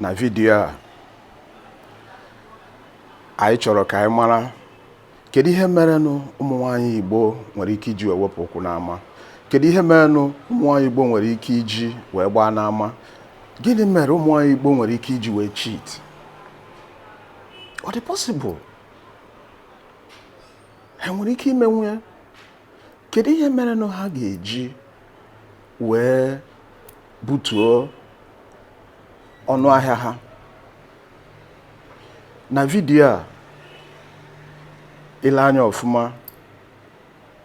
na vidiyo a anyị chọrọ ka anyị mara kedu ihe merenụ ụmụ nwaanyị Igbo nwere ike iji wee wepụ ụkwụ n'ama kedu ihe merenụ ụmụ nwaanyị Igbo nwere ike iji wee gbaa n'ama gịnị mere ụmụ nwaanyị Igbo nwere ike iji wee cheat ọ dị possible ha nwere ike imenwu ya kedu ihe merenụ ha ga-eji wee butuo ọnụ ahịa ha na vidiyo a i lee anya ọfụma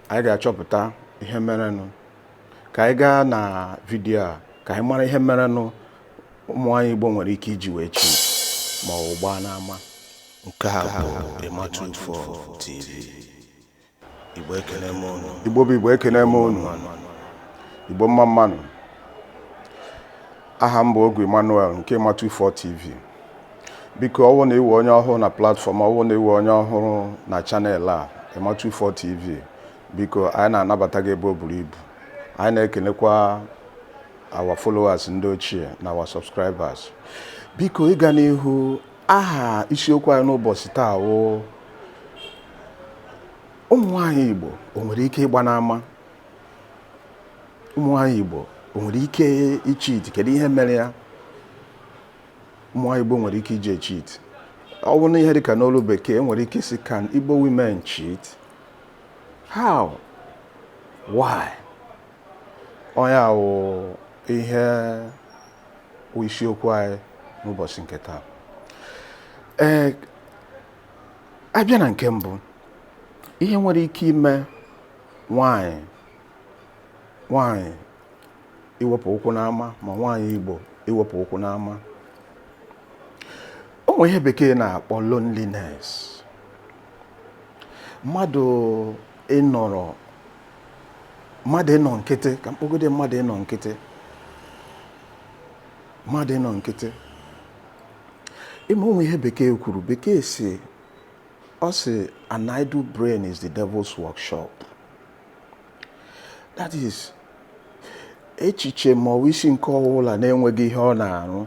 anyị ga-achọpụta ihe merenụ ka anyị gaa na vidiyo a ka anyị mara ihe merenụ ụmụ nwaanyị Igbo nwere ike iji wee cheat ma ọ wụ gbaa n'ama nke a bụ Emma 24 TV Igbo ekene m unu. Igbo bụ Igbo ekene m unu. Igbo mma mma nụ. Aha m bụ Ogwu Emmanuel nke Emma 24 TV. Biko ọ wụ na ị wụ onye ọhụrụ na platform ọ wụ na ị wụ onye ọhụrụ na channel a Emma 24 TV biko anyị na-anabata gị ebe o buru ibu anyị na-ekenekwa our followers ndị ochie na our subscribers biko ịga n'ihu aha isiokwu anyị n'ụbọchị taa wụ ụmụ nwaanyị Igbo o nwere ike ịgba n'ama ụmụ nwaanyị Igbo o nwere ike icheat kedu ihe mere ya ụmụ nwaanyị Igbo nwere ike iji cheat ọ wụ na ihe dịka n'olu bekee nwere ike ịsị can Igbo women cheat how why ọ ya wụ ihe wụ isiokwu anyị n'ụbọchị nke taa ee a bịa na nke mbụ ihe nwere ike ime nwaanyị nwaanyị iwepụ ụkwụ n'ama ma nwaanyị Igbo iwepụ ụkwụ n'ama o nwere ihe bekee na-akpọ loneliness mmadụ ịnọrọ mmadụ ịnọ nkịtị ka m kpọgodi mmadụ ịnọ nkịtị mmadụ ịnọ nkịtị ị ma o nwere ihe bekee kwuru bekee sị ọ sị an idle brain is the devil's workshop that is echiche ma ọ wụ isi nke ọbụla na-enweghị ihe ọ na-arụ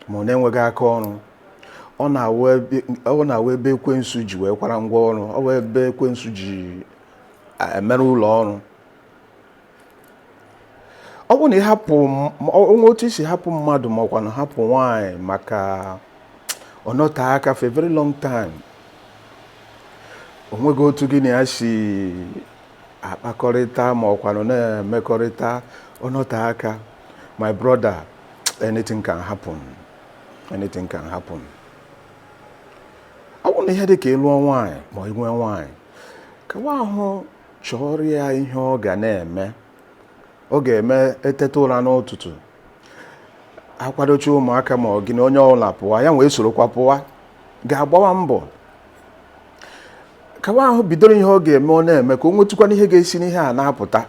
ma ọ na-enweghị aka ọrụ ọ na-awụ ebe ekwensu ji wee kwara ngwa ọrụ ọ wụ ebe ekwensu ji emere ụlọ ọrụ ọ bụrụ na ị hapụ o nwee otu i si hapụ mmadụ ma ọ kwanụ hapụ nwaanyị maka ọ nọte aka for a very long time o nweghị otu gị na ya si akpakọrịta ma ọ kwanụ na-emekọrịta ọ nọte aka my brother anything can happen anything can happen ọ bụrụ na ihe dị ka ị lụọ nwaanyị ma ị nwee nwaanyị kawa ahụ chọọrọ ya ihe ọ ga na-eme ọ ga-eme e teta ụra n'ụtụtụ a kwadocha ụmụaka ma ọ gị na onye ọbụla pụwa ya wee sorokwa pụwa gaa gbawa mbọ kawa ahụ bidoro ihe ọ ga-eme ọ na-eme ka o nwetụkwanụ ihe ga-esi n'ihe a na-apụta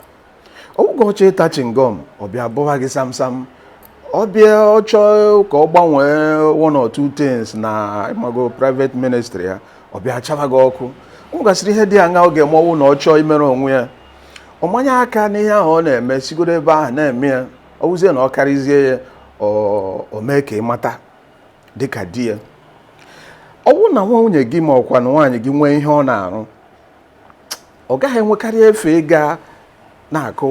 ọ wụghị ọ chọọ ịta chingom ọ bịa bụwa gị samsam ọ bịa ọ chọọ ka ọ gbanwee one or two things na ị mago private ministry ya ọ bịa chaba gị ọkụ o nwegasịrị ihe dị aṅaa ọ ga-eme ọ wụ na ọ chọọ imere onwe ya ọ manye aka n'ihe ahụ ọ na-eme sigodu ebe ahụ na-eme ya ọ wụzie na ọ karịzie ya o mee ka ị mata dịka di ya ọ bụrụ na nwunye gị ma ọ kwanụ nwaanyị gị nwee ihe ọ na-arụ ọ gaghị enwekarị efe ịga na-akụ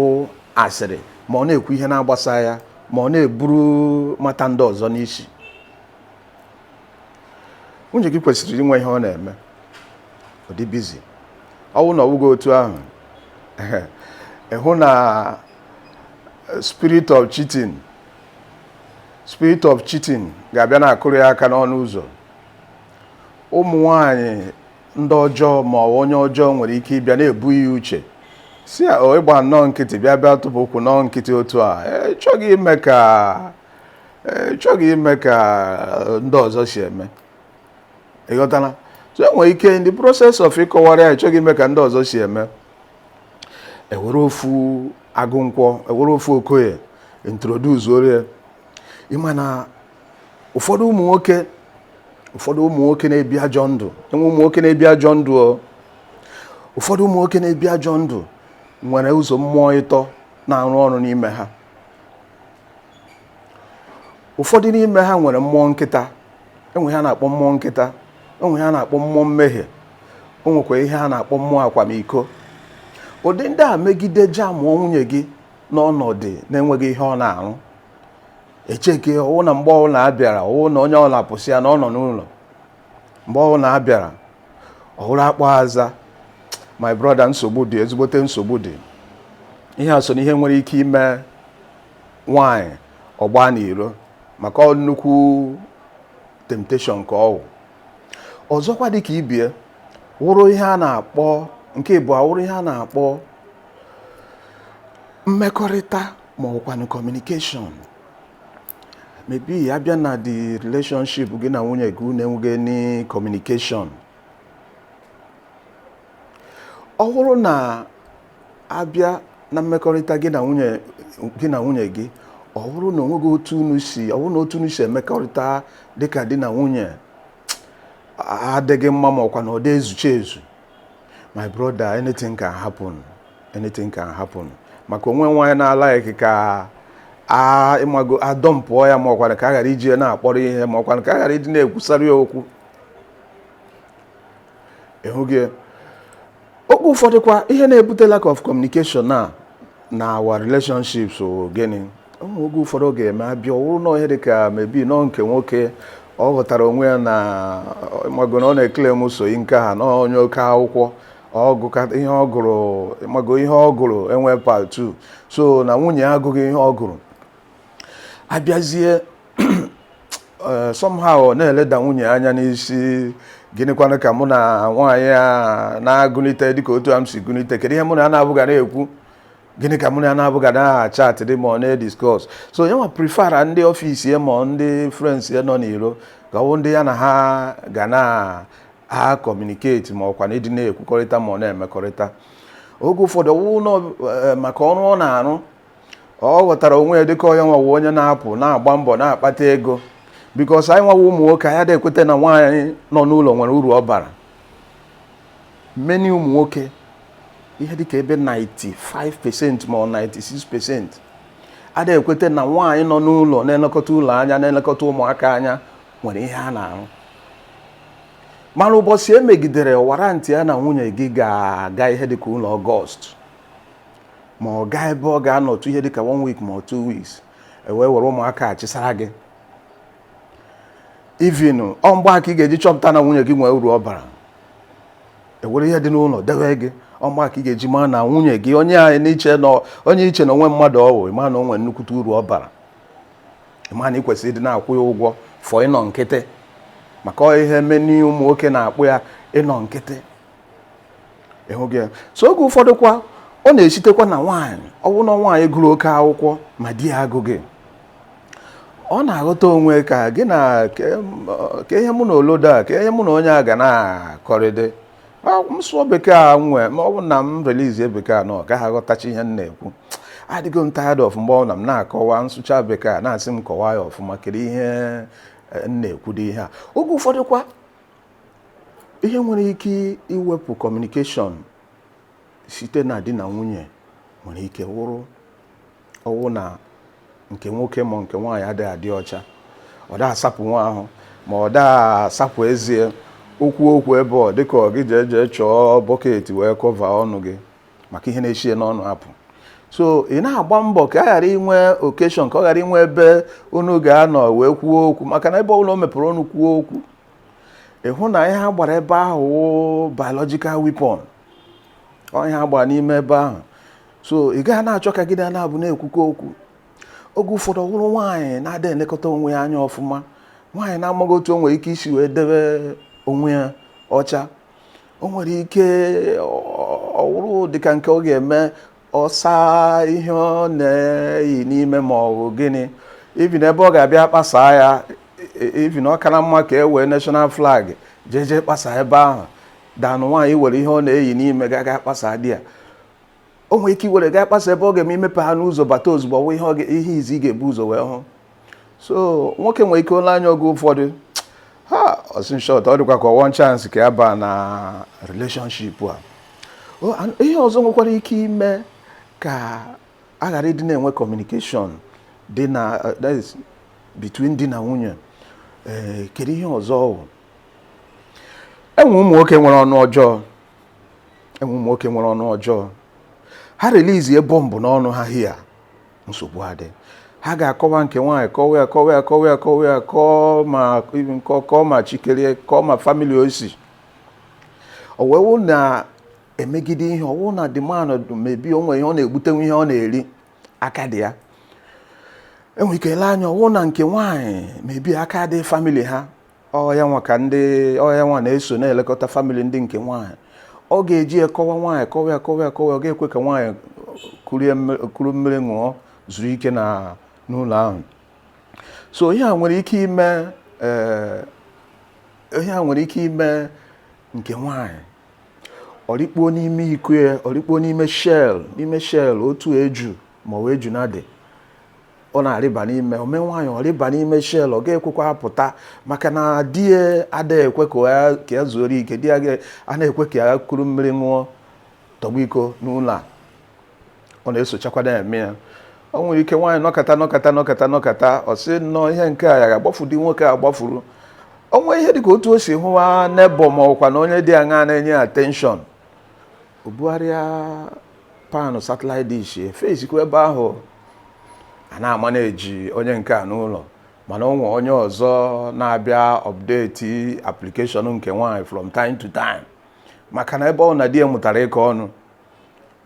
asịrị ma ọ na-ekwu ihe na-agbasa ya ma ọ na-eburu matter ndị ọzọ n'isi nwunye gị kwesịrị inwe ihe ọ na-eme ọ dị busy ọ bụrụ na ọ bụghị otu ahụ ị hụ na spirit of cheating spirit of cheating ga-abịa na-akụrụ ya aka n'ọnụ ụzọ ụmụ nwanyị ndị ọjọọ ma ọ onye ọjọọ nwere ike ịbịa na-ebu ya uche sị ya o ị gba nnọọ nkịtị bịa bịa tụpụ ụkwụ nọọ nkịtị otu a ị chọghị ime ka ị chọghị ime ka e, ndị ọzọ si eme ị ghọtala so e nwere ike in the process of ịkọwara ya ị chọghị ime ka ndị ọzọ si eme e were ofu agụnkwọ e were ofu okoye introduce ọrọ ya ị ma na ụfọdụ ụmụ nwoke ụfọdụ ụmụ nwoke na-ebi ajọ ndụ e nwe ụmụ nwoke na-ebi ajọ ndụ o ụfọdụ ụmụ nwoke na-ebi ajọ ndụ nwere ụzọ mmụọ ịtọ na-arụ ọrụ n'ime ha ụfọdụ n'ime ha nwere mmụọ nkịta e nwe ihe a na-akpọ mmụọ nkịta o nwe ihe a na-akpọ mmụọ mmehie o nwekwa ihe a na-akpọ mmụọ akwamiko ụdị ndị a megide jamụọ nwunye gị n'ọnọdụ na-enweghị ihe ọ na-arụ echeke ọwụ na mgbe ọwụla abịara ọwụ na onye ọwụla pụsịa na ọ nọ n'ụlọ mgbe ọwụla abịara ọ wụrụ akpọọ aza my brother nsogbu dị ezigbote nsogbu dị ihe a so na ihe nwere ike ime nwanyị ọ gbaa n'iro maka ọ nnukwu temptation ka ọwụ ọzọkwa dịka ibe ya wụrụ ihe a na-akpọ nke ịbụọ wụrụ ihe a na-akpọ mmekọrịta ma ọ wụkwanụ communication maybe abịa na the relationship gị na nwunye gị unu enweghị any communication ọ bụrụ na abịa na mmekọrịta gị na nwunye gị ọ bụrụ na onweghị otu unu si ọ bụrụ na otu unu si emekọrịta dịka di na nwunye adịghị mma ma ọ wụkwa na ọ dịghị ezuche ezu my brother anything can happen anything can happen maka onweghị nwaanyị na-alike ka ịmago a dumpụọ ya ma ọkwanụ ka a ghara iji ya na-akpọrọ ihe ma ọkwanụ ka a ghara ịdị na-ekwusara ya okwu ịhụghị oge ụfọdụkwa ihe na-ebute lack of communication na na our relationships ọ gịnị oge ụfọdụ ọ ga-eme abịa ọ wụrụ na ihe dị ka maybe nọ nke nwoke ọ ghọtara onwe ya na ịmago na ọ na-claim soyi nke ha na onye oke akwụkwọ ọ gụkata ihe ọ gụrụ ịmago ihe ọ gụrụ enweghị part two so na nwunye ya agụghị ihe ọ gụrụ abịazie eh, somehow ọ na-eleda nwunye ya anya na-asị gịnịkwanụ ka mụ na nwaanyị a na-agụliteghị dịka otu a m si gụlite kedu ihe mụ na ya naabọ ga na-ekwu gịnị ka mụ na ya naabọ ga na-achat ma ọ na-ediscuss so ya nwa prefera ndị office ya ma ndị friends ya nọ n'iro ka ọ ndị ya na ha ga na-acommunicate ma ọkwa na ịdị na-ekwukọrịta ma ọ na-emekọrịta oge ụfọdụ ọwụ eh, maka ọrụ ọ na-arụ ọ ghọtara onwe ya dịka ya nwa wụ onye na-apụ na-agba mbọ na-akpata ego because anyị nwa wụ ụmụ nwoke anyị adịghị ekweta na nwaanyị nọ n'ụlọ nwere uru ọ bara many ụmụ nwoke ihe dịka ebe 95% ma ọ 96% adịghị ekweta na nwaanyị nọ n'ụlọ na-elekọta ụlọ anya na-elekọta ụmụaka anya nwere ihe a na-arụ mana ụbọchị ihe megidere warrantịa na nwunye gị ga-aga ihe dịka ụlọ August ma ọ gaa ebe ọ ga-anọtụ ihe dịka one week ma ọ two weeks ewee were ụmụaka a chịsara gị even ọ mgbe a ka ị ga-eji chọpụta na nwunye gị nwee uru ọ bara ewere ihe dị n'ụlọ dewe gị ọ mgbe a ka ị ga-eji maa na nwunye gị onye anyị na-eche na onye i che na o nwe mmadụ ọ wụ ịma na o nwee nnukwute uru ọ bara ịma na ị kwesịrị ịdị na-akwụ ya ụgwọ for ịnọ nkịtị maka ọ ihe meni ụmụ nwoke na-akpọ ya ịnọ nkịtị ịhụghị ya so oge ụfọdụ kwa ọ na-esitekwa na nwaanyị ọ bụrụ na nwaanyị gụrụ oke akwụkwọ ma di ya agụghị ọ na-aghọta onwe ka gịnị ke ihe mụ na olodo a ke ihe mụ na onye a ga na-akọrịdị m sụọ bekee a nwee ma ọ bụ na m relizie bekee a na ọ gaghị aghọtachi ihe m na-ekwu adịgo m tired of mgbe ọwụna m na-akọwa m sụcha bekee a na-asị m kọwa ya ọfụma kedu ihe eh, m na-ekwu dị ihe a oge ụfọdụ kwa ihe nwere ike iwepụ communication site na di na nwunye nwere ike wụrụ ọwụ na nke nwoke ma nke nwaanyị adịghị adị ọcha ọ da asapụnwu ahụ ma ọ da asapụ eze o kwuo okwu ebe ọ dịka ọ gị jee jee chọọ bucket wee cover ọnụ gị maka ihe na-esi ya n'ọnụ apụ so ị na-agba mbọ ka a ghara inwe occasion ka ọ ghara inwe ebe unu ga-anọ wee kwuo okwu maka na ebe ọbụla o mepere ọnụ kwuo okwu ị hụ na ihe ha gbara ebe ahụ biological weapon ọ ihe ha gbara n'ime ebe ahụ so ị gaghị na-achọ ka gị na na-abụ na-ekwukọ okwu oge ụfọdụ ọ wụrụ nwaanyị na-ada elekọta onwe ya anya ọfụma nwaanyị na-amaghị otu o nwere ike isi wee debe onwe ya ọcha o nwere ike ọ wụrụ dịka nke ọ ga-eme ọ saa ihe ọ na-eyi n'ime ma ọ bụ gịnị even ebe ọ ga-abịa kpasaa ya even ọ kara mma ka e wee national flag jeje kpasa ebe ahụ than nwaanyị were ihe ọ na-eyi n'ime gaa gaa kpasa di ya o nwere ike iwere gaa kpasa ebe ọ ga-eme i mepehanụ ụzọ bata ozugbo ọwụ ihe ọ ga- ihe izi ị ga-ebu ụzọ wee hụ so nwoke nwere ike o lee anya oge ụfọdụ ha ọ sị in short ọ dịkwa ka one chance ka ya baa na relationship a O, an- ihe ọzọ nwekwara ike ime ka a ghara ịdị na-enwe communication dị na uh, that is between di na nwunye ee kedu ihe ọzọ ọ bụ e nwe ụmụ nwoke nwere ọnụ ọjọọ e nwe ụmụ nwoke nwere ọnụ ọjọọ ha relizie bomb n'ọnụ ha here nsogbu adị ha ga-akọwa nke nwaanyị kọwa ya kọwa ya kọwa ya kọwa ya kọọ ma nkọ kọọ ma chikerie kọọ ma family ọ sị owewu na-emegide ihe ọwụ na the man mebi o nwe ihe ọ na-egbutenwu ihe ọ na-eri aka dị ya e nwere ike ele anya ọwụ na nke nwaanyị mebi aka dị family ha ọ ya nwa ka ndị ọ ya nwa na-eso na-elekọta family ndị nke nwaanyị ọ ga-eji ya kọwa nwaanyị kọwa ya kọwa ya kọwa ya ọ ga-ekwe ka nwaanyị kurie mmiri- kuru mmiri ṅụọ zuru ike na n'ụlọ ahụ so ihe a nwere ike ime ee, ihe a nwere ike ime nke nwaanyị ọ rịkpuo n'ime iko ya ọ rịkpuo n'ime shell n'ime shell otu eju ma ọ bụ ejuna dị ọ na-arịba n'ime o mee nwaanyị ọ rịba n'ime shell ọ ga-ekwekwa apụta maka na di ya adịghị ekwe ka ya zuoro ike di ya a na-ekwe ka ya kuru mmiri ṅụọ tọgbu iko n'ụlọ a ọ na-esochakwa na-eme ya ọ nwere ike nwaanyị nọkata nọkata nọkata nọkata ọ sị nnọọ ihe nke a ya ga-agbafu di nwoke a gbafuru o nwee ihe dịka otu o si hụwa neighbour ma ọ kwanụ onye dị aṅa na-enye attention o bugharịa pan satellite dish efesikwa ebe ahụ a na-ama na e ji onye nke a n'ụlọ mana o nwee onye ọzọ na-abịa update application nke nwaanyị from time to time maka na ebe ọ na di ya mụtara ịkọ ọnụ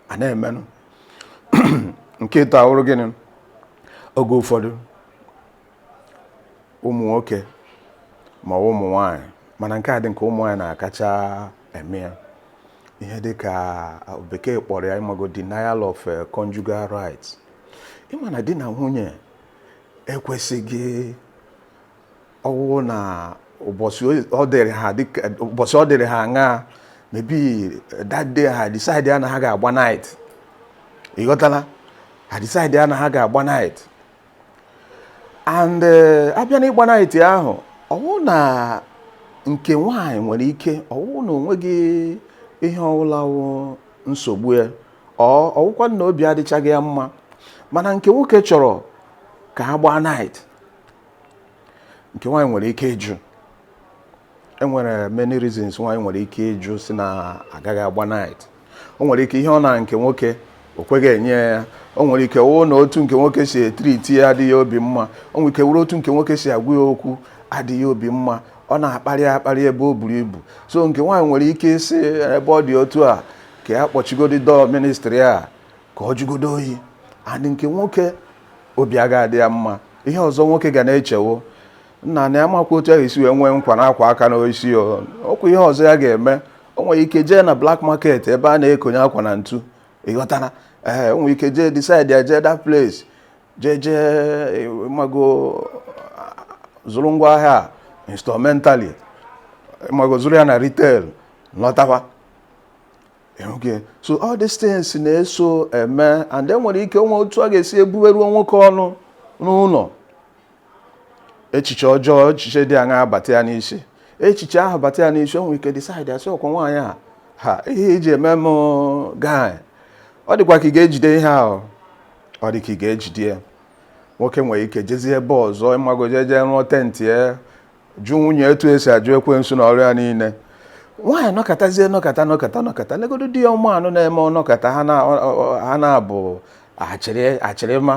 a na-emenụ nke ịtọ awụrụ gịnị oge ụfọdụ ụmụ nwoke ma ụmụ nwanyị mana nke a dị ka ụmụ nwanyị na-akacha eme ya ihe dị ka bekee kpọrọ ya ị mago denial of eh, conjugal rights ị ma na di na nwunye ekwesịghị ọ wụrụ na ụbọchị ọ dịrị ha dịka ụbọchị ọ dịrị ha aṅa maybe that day ha decide ya na ha ga-agba night ị ghọtala ha decide ya na ha ga-agba night and eh, a bịa na ịgba night ahụ ọ wụ na nke nwaanyị nwere ike ọ wụ na o nweghị ihe ọwụla wụ nsogbu ya or ọ wụkwa na obi adịchaghị ya mma mana nke nwoke chọrọ ka a gbaa night nke nwaanyị nwere ike ịjụ e nwere many reasons nwaanyị nwere ike ịjụ sị na a gaghị agba night o nwere ike ihe ọ na nke nwoke o kweghị enye ya o nwere ike wụ na otu nke nwoke si etriti ya adịghị obi mma o nwere ike wụrụ otu nke nwoke si agwa ya okwu adịghị obi mma ọ na-akparị akparị ebe o buru ibu so nke nwaanyị nwere ike ịsị ebe ọ dị otu a ka ya kpọchigodi door ministry a ka ọ jụgodo oyi adị nke nwoke obi agaghị adị ya mma ihe ọzọ nwoke ga na-echewo nna na ya makwa otu ahụ esi wee nwee nkwa na akwa aka n'isi okwu ihe ọzọ ya ga-eme o nwere ike jee na black market ebe a na-ekonye akwa na ntu ị ghọtara ee o nwere ike jee decide ya jee that place jee jee mago zụrụ ngwa ahịa instrumentally mago zụrụ ya na retail lọtawa okay so all these things na-eso eme and e nwere ike o nwee otu a ga-esi ebuberu nwoke ọnụ n'ụlọ echiche ọjọọ echiche dị aṅa abata ya n'isi echiche ahụ bata ya n'isi o nwere ike decide asị ọkwa nwaanyị a ha ihe iji eme m guy ọ dịkwa ka ị ga-ejide ihe ahụ ọ dị ka ị ga-ejide ya nwoke nwere ike jezie ebe ọzọ ịmago jee jee rụọ tent ya jụ nwunye etu e si ajụ ekwensu na ọrụ ya niile nwaanyị nọkọtazie nọkọta nọkọta nọkọta legodo di ya ụmụ anụ na-eme ọ nọkọta ha na-abụ achịrị achịrịma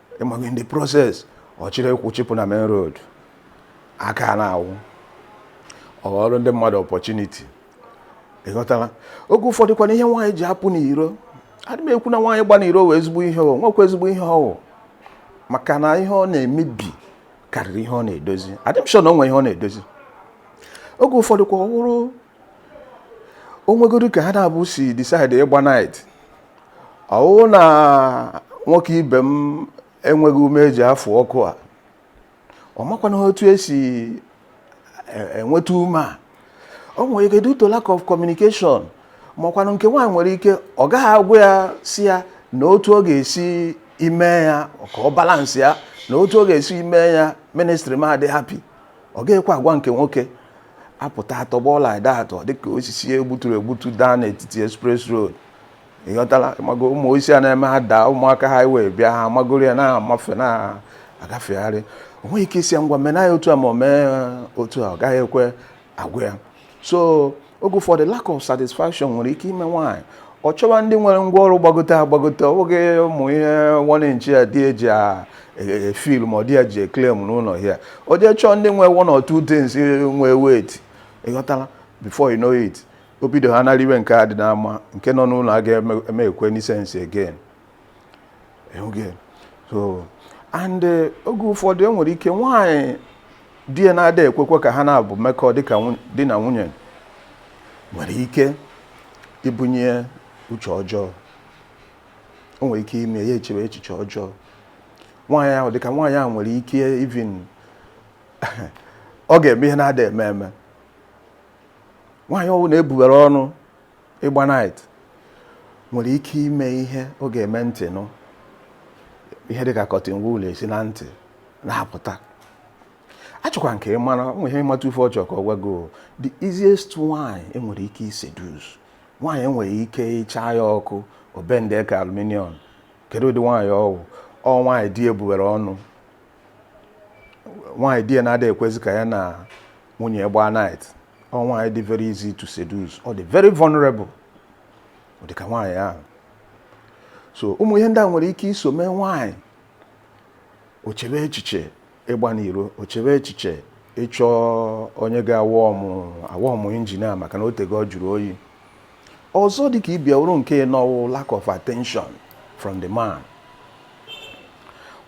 ịmago in the process ọ chịrị ụkwụ chịpụ na main road aka na-awụ ọ ghọọrọ ndị mmadụ opportunity ịghọtala oge ụfọdụ kwanụ ihe nwaanyị ji apụ n'iro adị m ekwu na nwaanyị ịgba n'iro wụ ezigbo ihe o nwekwa ezigbo ihe ọ wụ maka na ihe ọ na-emebi karịrị ihe ọ na-edozi adị m sure na o nwere ihe ọ na-edozi oge ụfọdụ kwa ọ wụrụ o nwegodu ka ha naabọ si decide ịgba night ọ wụ na nwoke ibe m enweghị ume eji afụ ọkụ a ọ makwanụ otu esi e- enweta ume a o nwere ike due to lack of communication makwanụ nke nwaanyị nwere ike ọ gaghị agwa ya sị ya na otu ọ ga-esi ime ya ka ọ balance ya na otu ọ ga-esi ime ya ministry m adị happy ọ gaghịkwa agwa nke nwoke apụta atọgbọ like that ọ dịka osisi egbuturu egbutu daa n'etiti express road ịghọtala mago ụmụ osisi a na-eme ha daa ụmụaka highway bịa ha magoro ya na-amafe na-agafegharị o nweghị ike ịsị ya ngwa mena ya otu a ma o mee otu a ọ gaghị ekwe agwa ya so oge ụfọdụ lack of satisfaction nwere ike ime nwaanyị ọ chọwa ndị nwere ngwa ọrụ gbagote agbagote ọ bụghị ụmụ ihe one inch a di ya ji efeel ma ọ di ya ji eclaim n'ụlọ ya o jee chọọ ndị nwe one or two things nwe weight ịghọtala before you know it o bido ha na-eriwe nke a dị n'ama nke nọ n'ụlọ aga-emekweni sense again oge so and eh, oge ụfọdụ e nwere ike nwaanyị di ya na-ada ekwekwe ka ha naabọ mekọọ dịka nwu- di na nwunye nwere ike ibunye uche ọjọọ o nwere ike ime ya echewe echiche ọjọọ nwaanyị ahụ dịka nwaanyị ahụ nwere ike even ọ ga-eme ihe na-ada eme eme nwaanyị ọwụna e bubere ọnụ ịgba night nwere ike ime ihe ọ ga-eme ntị nụ ihe dịka cotton wool esi na ntị na-apụta achọkwa nke ị mara nwe ihe ịmata ife ọ chọ ka ọ gwago the easiest nwaanyị e nwere ike iseduce nwaanyị e nwere ike ịcha ya ọkụ o bende ka aluminium kedu ụdị nwaanyị ọ wụ ọ nwaanyị di ya buwere ọnụ nwaanyị di ya na-ada ekwezi ka ya na nwunye gbaa night ọ nwaanyị dị very easy to seduce ọ dị very vulnerable ọ dị ka nwaanyị ahụ so ụmụ ihe ndị a nwere ike iso mee nwaanyị o chebe echiche ịgba n'iro o chebe echiche ịchọ onye ga-awarm engine ya maka na o tego ọ jụrụ oyi ọzọ dịka ibe ya wụrụ nke anọ wụ lack of attention from the man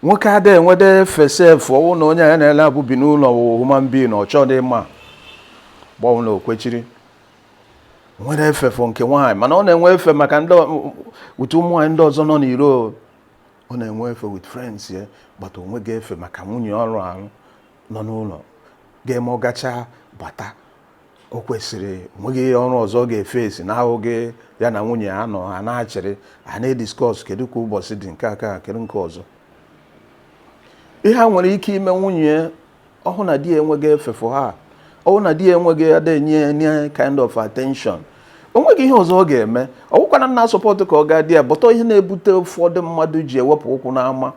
nwoke ada enwedị efe sef ọ wụ na onye ya na ya abụọ bi n'ụlọ wụ human being ọ chọdị ịma ma ọ wụ na o kwesịrị nwere efe for nke nwaanyị mana ọ na-enwe efe maka ndị ọ- utu ụmụ nwaanyị ndị ọzọ nọ n'iro ọ na-enwe efe with friends ya but o nweghị efe maka nwunye ọrụ ahụ nọ n'ụlọ ga-eme ọ gachaa bata o kwesịrị o nweghị ọrụ ọzọ ọ ga-eface na-awụghị ya na nwunye ya nọ ha na-achịrị ha na-ediscuss kedu ka ụbọchị dị nke aka kedu nke ọzọ ihe a nwere ike ime nwunye ya ọ hụ na di ya enweghị efe for ya ọ hụ na di ya enweghị ada enye any kind of attention o nweghị ihe ọzọ ọ ga-eme ọ wụkwana m na-asupport ka ọ gaa there but ọ ihe na-ebute ụfọdụ mmadụ ji ewepụ ụkwụ n'ama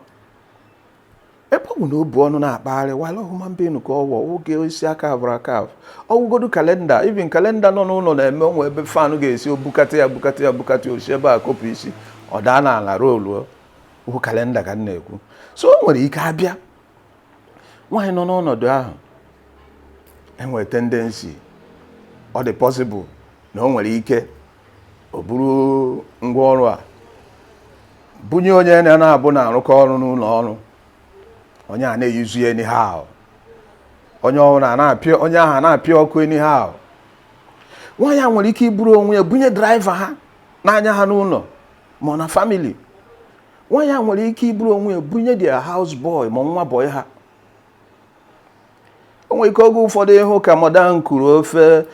ebe ọ bụ na o bu ọnụ na-akpagharị while human being ka ọ wụ ọ wụghị osisi a carvụrụ acarve ọ wụgodu calendar even calendar nọ n'ụlọ na-eme o nwee ebe fan ga-esi bukata ya bukata ya bukata o si ebe a kopụ isi ọ daa n'ala rollụọ ọ wụ calendar ka m na-ekwu so o nwere ike abịa nwaanyị nọ n'ọnọdụ ahụ enwere tendency ọ dị possible na o nwere ike o buru ngwa ọrụ ya bunye onye ya na ya abụọ na-arụkọ ọrụ n'ụlọ ọrụ onye a na-euse ya anyhow onye ọrụ na na-apịa onye ahụ na-apịa ọkụ anyhow nwaanyị a nwere ike iburu onwe ya bunye driver ha na-anya ha n'ụlọ ma ọ na family nwaanyị a nwere ike iburu onwe ya bunye their house boy ma nwa boy ha o nwere ike oge ụfọdụ ị hụ ka madam kuru ofe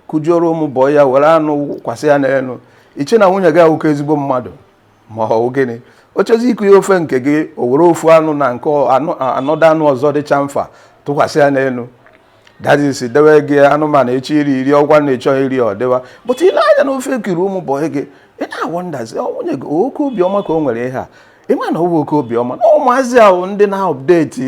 kujuoro ụmụ boy ya were anụ kwasị ya n'elu i chee na nwunye gị awụka ezigbo mmadụ ma ọ bụ gịnị ọ chọzi ikuye ofe nke gị o were ofu anụ na nke another anụ ọzọ dịcha mfa tụkwasị ya n'elu that is dewe gị anụmanụ ị chọ iri i rie ọ wụ na ị chọghị iri ọ dịwa but i lee anya na ofe e kuuru ụmụ boy gị ị na-awonderzi nwunye gị oke obiọma ka o nwere ihe a ị ma na ọ wụ oke obiọma na ụmụazị ahụ ndị na-update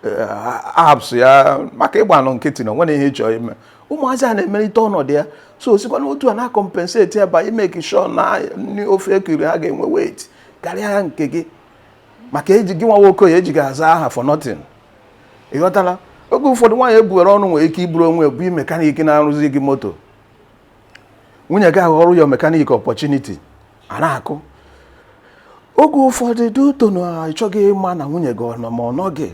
eh, apps ya maka ịgbanụ nkịtị na o nwere ihe ị chọ ime ụmụazị a na-emelite ọnọdụ ya so o sikwa n'otu a na-acompensate ya by imake sure na ndị ofe e kuuru ha ga-enwe weight karịa nke gị maka ejighị nwa nwoke ya ejighị aza aha for nothing ịghọtala oge ụfọdụ nwaanyị ebuwere ọnụ nwere ike ịbụrụ onye bụ mekaniki na-arụzi gị moto nwunye gị aghọrọ ya mekaniki opportunity a na-akụ oge ụfọdụ due to na ị chọghị ịma na nwunye gị ọ nọ ma ọ nọghị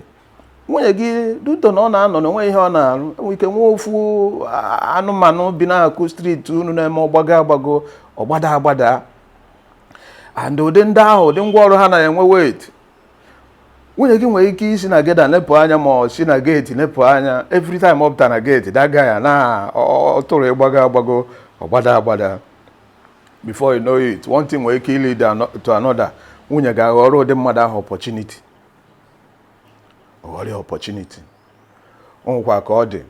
nwunye gị due to na ọ na-anọ na o nwe ihe ọ na-arụ e nwere ike nwee ofu anụmanụ bi n'akụkụ street unu na-eme ọgbago agbago ọgbada agbada and ụdị ndị ahụ ụdị ngwa ọrụ ha na-enwe weight nwunye gị nwere ike isi na gate nepụ anya ma ọ si na gate nepụ anya every time ọ pụta na gate daga ya na ọ tụrụ ọgbago agbago ọgbada agbada before you know it one thing nwere ike lead to another nwunye gị aghọrọ ụdị mmadụ ahụ opportunity ọ ghọrọ ya opportunity o nwekwa ka ọ dị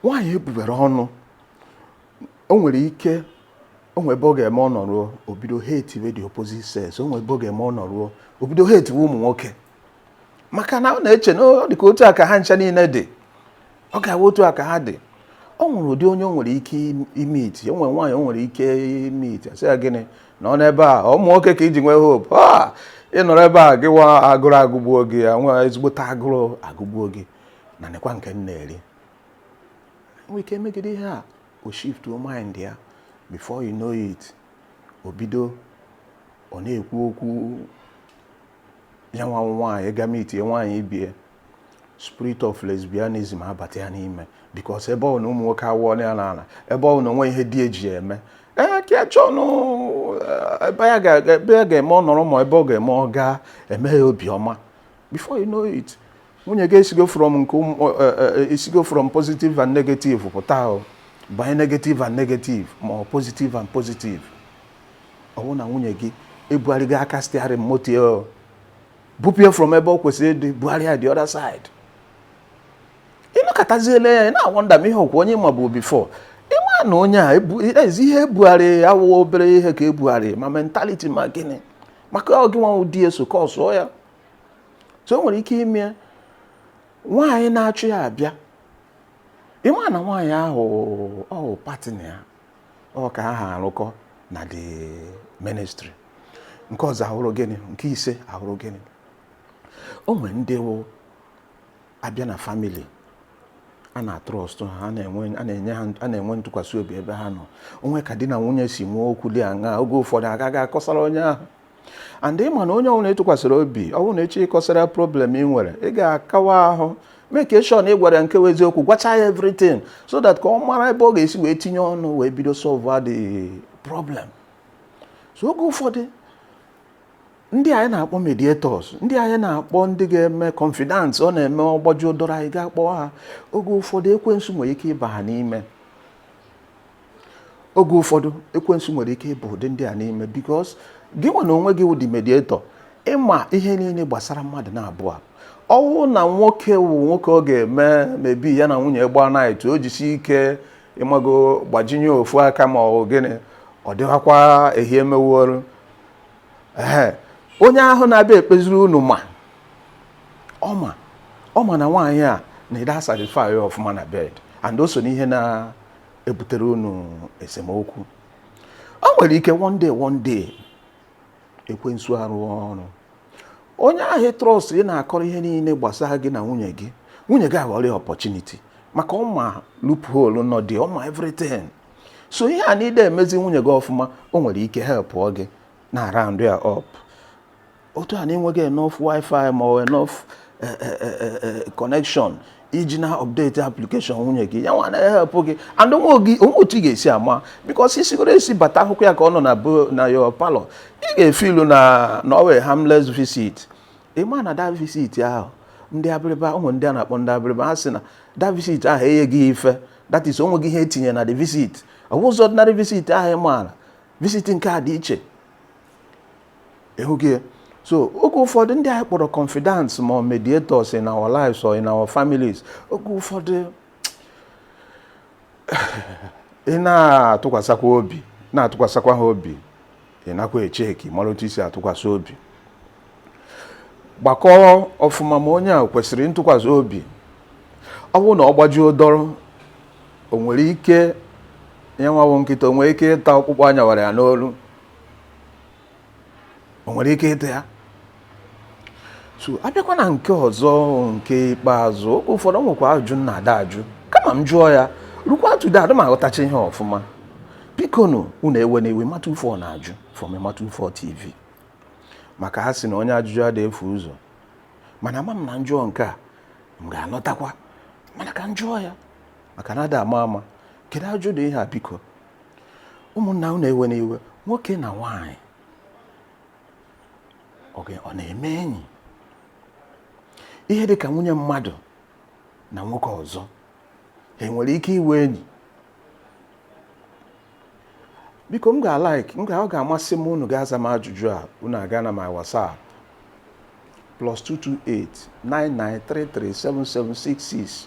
nwaanyị ebubere ọnụ o nwere ike o nwere ebe ọ ga-eme ọ nọruo o bido hatewe the opposite sex o nwere ebe ọ ga-eme ọ nọruo o bido hate ụmụ nwoke maka na ọ na-eche na ọ dị ka otu a ka ha ncha niile dị ọ ga-awụ otu a ka ha dị o nwere ụdị onye o nwere ike imeet o nwere nwaanyị o nwere ike imeet a sị ya gịnị na ọ n'ebe a ụmụ nwoke ka i ji nwee hope a ị nọrọ ebe a gị nwa agụrụ agụgbuo gị ya nwa ezigbote agụrụ agụgbuo gị na nekwa nke m na-eri nwere ike megide ihe a o shiftuo mind ya before you know it o bido ọ na-ekwu okwu ya nwa nwaanyị ịga meetie nwaanyị ibe ya spirit of lesbianism abata ya n'ime because ebe ọ na ụmụ nwoke awụọla ya n'ala ebe ọ na o nwe ihe di ya ji ya eme ee ka chọnụ ebe ya ga-eme ọ nọrọ ma ebe ọ ga-eme ọ ga-eme ya obi ọma before you know it nwunye gị esigo from nke esigo eh, eh, from positive and negative pụta o banye negative and negative ma ọ positive and positive ọ bụrụ na nwunye gị ebugharịgo aka steering moto ya bupụ ya from ebe ọ kwesịrị ịdị bugharịa the other side ị nọkatazie lee ya ị na-awonder ma ihe ọkwa onye m mabu before ịma na onye a ezi ihe ebugharị awụwa obere ihe ka ebugharị ma mentality ma gịnị maka ọ gị nwa wụ di ya so causeuo ya so o nwere ike ime nwaanyị na-achụ ya abịa ịma na nwaanyị ahụ wụ partner ya ọ ka ha arụkọ na the ministry nke ọzọ awụrụ gịnị nke ise awụrụ gịnị o nwere ndị wụ abịa na family a na-atrust ha a na-enye ha a na-enwe ntụkwasị obi ebe ha nọ o nwe ka di na nwunye si nwee okwu dị aṅa oge ụfọdụ agaghị akọsara onye ahụ and ị ma na onye ọbụla ị tụkwasịrị obi ọ bụrụ na echi ịkọsara problem ị nwere ị ga-akawa ahụ make sure na ị gwara nke eziokwu gwacha ya everything so that ka ọ mara ebe ọ ga-esi wee tinye ọnụ wee bido solve the problem so oge ụfọdụ ndị anyị na-akpọ mediators ndị anyị na-akpọ ndị ga-eme confidants ọ na-eme ọ gbajuo dọrọ anyị ga-akpọ ha oge ụfọdụ ekwensu nwere ike ịba ha n'ime oge ụfọdụ ekwensu nwere ike ịba ụdị ndị a n'ime because gị nwa na onwe gị wụ the mediator ị ma ihe niile gbasara mmadụ naabọ a ọ wụ na nwoke wụ nwoke ọ ga-eme maybe ya na nwunye gbaa night o jisi ike ị mago gbajinye ofu aka ma ọ gịnị ọ dịghakwa ihe emeworo ee onye ahụ na-abịa ekpeziri unu ma ọ ma ọ ma na nwaanyị a na ị da satisfy ọfụma na bed and o so n'ihe na ebutere unu esemokwu o nwere ike one day one day ekwensu arụọ ọrụ onye ahụ trust ị na-akọrọ ihe niile gbasara gị na nwunye gị nwunye gị aghọrọ ya opportunity maka ọ ma loophole nọ dị ọ ma everything so ihe a na ị da emezi nwunye gị ọfụma o nwere ike helpụọ gị na round ya up otu a na enweghị enough wifi ma ọ enough eh, eh, eh, connection iji na update application nwunye gị ya nwa na-help gị and o nwe otu ị ga-esi ama because i sigo ọrụ esi bata ahụkwa ya ka ọ nọ na your parlour ị ga-efeel na ọ wụ harmless visit ị ma na that visit ahụ ndị abịrịba ụmụ ndị a na-akpọ ndị abịrịba ha sị na that visit ahụ enye gị ife that is o nwego ihe e tinye na the visit ọ bụzị ordinary visit ahụ ị maara visit nke a dị iche ị hụgo ya so oge ụfọdụ ndị anyị kpọrọ confidants ma ọ mediators in our lives or in our families oge ụfọdụ ị na-atụkwasịkwa obi na-atụkwasịkwa ha obi ị nakwa echeki mara otu i si atụkwasị obi gbakọọ ọfụma ma onye a kwesịrị ntụkwasị obi ọ bụrụ na ọ gbajuo dọrọ o nwere ike ya nwa wụ nkịta o nwere ike ịta ọkpụkpụ a nyawara ya n'olu o nwere ike ịta ya so abịakwa na nke ọzọ nke ikpeazụ oge ụfọdụ o nwekwa ajụ na ada ajụ kama m jụọ ya rukwa today adị m aghọtacha ihe ọfụma bikonụ unu ewena iwe mata ufọ na-ajụ from mata ufọ tv maka a sị na onye ajụjụ ada efu ụzọ mana ama m na m jụọ nke a m ga-anụtakwa mana ka m jụọ ya maka na ada ama ama kedu ajụ ụdị ihe a biko ụmụnna unu ewena iwe nwoke na nwaanyị ọ na-eme enyi ihe dị ka nwunye mmadụ na nwoke ọzọ ha enwere ike ịwụ enyi biko m ga-like m ga ọ ga-amasị m unu ga-aza m ajụjụ a unu aga na my WhatsApp plus 228-9933-7766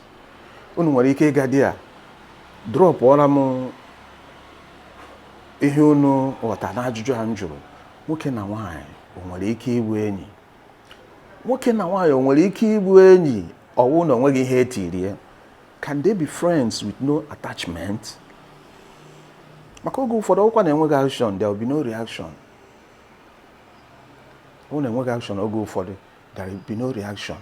unu nwere ike ịga there dropụọra m ihe unu ghọta n'ajụjụ a m jụrụ nwoke na nwaanyị o nwere ike ịbụ enyi nwoke na nwaanyị o nwere ike ịbụ enyi ọwụ na onweghị ihe etirie can they be friends with no attachment maka oge ụfọdụ ọwụkwa na enweghị action there will be no reaction ọwụ na enweghị action oge ụfọdụ there be no reaction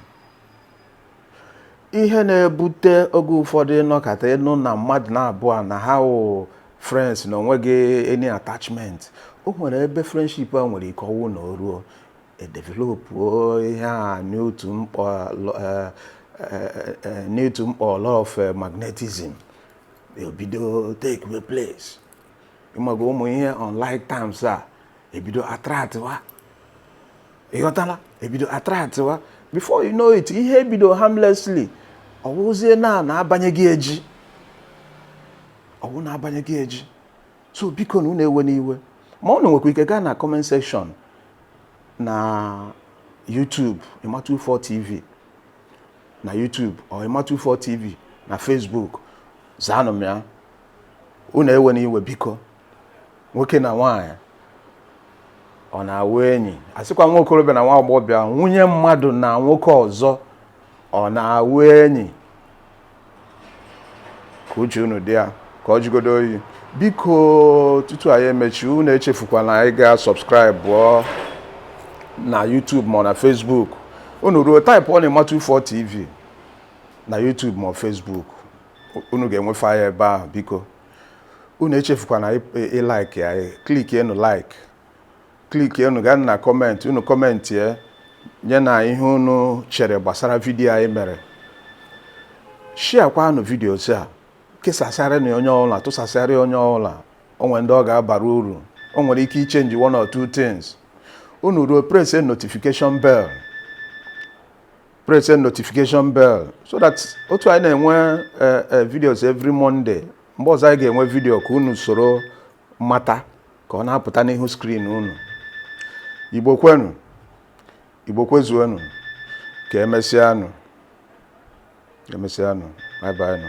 ihe na-ebute oge ụfọdụ ị nọkata ị nụ na mmadụ na-abụọ na ha wụ friends na onweghị any attachment o nwere ebe friendship a nwere ike ọwụ na o ruo edevelopuo ihe a n'otu mkpọ eh, eh, eh, n'otu mkpọ law of magnetism ebido takewe place ịmago ụmụ ihe unlike terms a ebido attractịwa ị ghọtala ebido attractịwa before you know it ihe ebido harmlessly ọwụzie na na-abanyeghị eji ọwụ na-abanyeghị eji so bikonụ unu ewena iwe ma unu nwekwa ike gaa na comment section na YouTube Ima24 TV na YouTube or Ima24 TV na Facebook zaanụ m ya unu ewena iwe biko nwoke na nwaanyị ọ na-awụ enyi asịkwa nwa okorobịa na nwa agbọghọbịa nwunye mmadụ na nwoke ọzọ ọ na-awụ enyi ka uche unu dị ya ka ọ jigodo oyi biko tutu anyị emechi unu echefukwana anyị ga subscribe na YouTube ma na Facebook unu ruo typeọnụ Ima24 TV na YouTube ma Facebook unu ga-enwefe ya ebe ahụ biko unu echefukwana ịlike ya clickienụ like clickienụ gaa na comment unu commentie nye na ihe unu chere gbasara video anyị mere sharekwanụ videos a kesasaranụ onye ọbụla tụsasara onye ọbụla o nwere ndị ọ ga-abara uru o nwere ike ịchange one or two things unu ruo pressie notification bell press the notification bell so that otu anyị na-enwe eh, eh, videos every Monday mgbe ọzọ anyị ga-enwe video ka unu soro mata ka ọ na-apụta n'ihu screen unu Igbo kwenu Igbo kwezuonu ka emesịanụ emesịanụ bye bye nụ